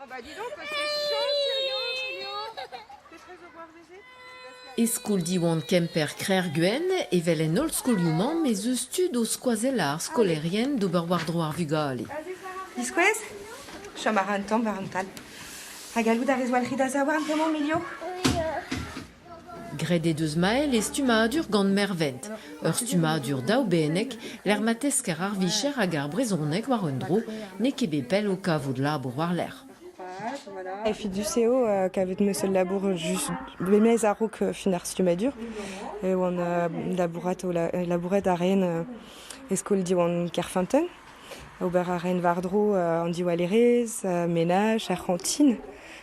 Ah bah dis donc, c'est chaud sérieux Julio Petrez au revoir Mézé E skol Diwan Kemper Krec'hguen evel en holl skolioù-mañ ez eus tud o skoazell ar skolaerien d'ober war-dro ar vugale. Diskouez Chom a ra un tamm war an tal. Ha gallout a rez walc'hiñ da zaouarn bremañ, Milio? Oui. Graet he deus Mael e stummadur gant Mervent, ur stummadur daoubenneg lec'h ma tesker ar vicher hag ar brezhoneg war un dro n'eo ket bet pell o kavout labour war-lerc'h. Efedus eo kavet ne seul labour just memes a-raok fin ar stummadur. E oan labourat, labourat a raen e skol Diwan Kerfinten. Ober a raen war-dro an diwallerezh, menaj, ar c'hantine.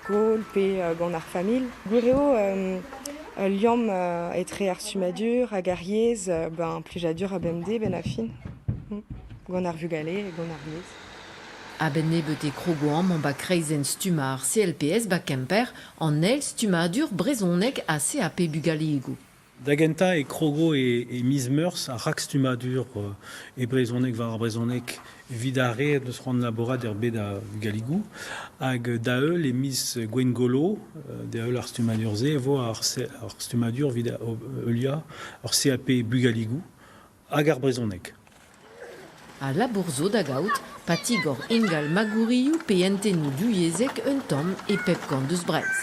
skol pe gant ar familh. Gwir eo ul liamm etre ar stummadur hag ar yezh ben plijadur ha bemdez benn ar fin gant ar vugale ha gant ar yezh. A-benn nebeut e krogo amañ 'ba kreizenn stummañ ar CLPS 'ba Kemper an eil stummadur brezhoneg ha CAP bugaligoù. Da gentañ e krogo e miz Meurzh ar rakstummadur e brezhoneg war ar brezhoneg evit ar re n'eus c'hoant labourat er bed a vugaligoù. Hag da-heul e miz Gwengolo, da-heul ar stummadur-se, e vo ar stummadur evit heuliañ ur CAP bugaligoù hag ar brezhoneg. A labour zo da gaout pa tigor ingal magourioù pe hentennoù divyezhek un tamm e pep kant eus Breizh.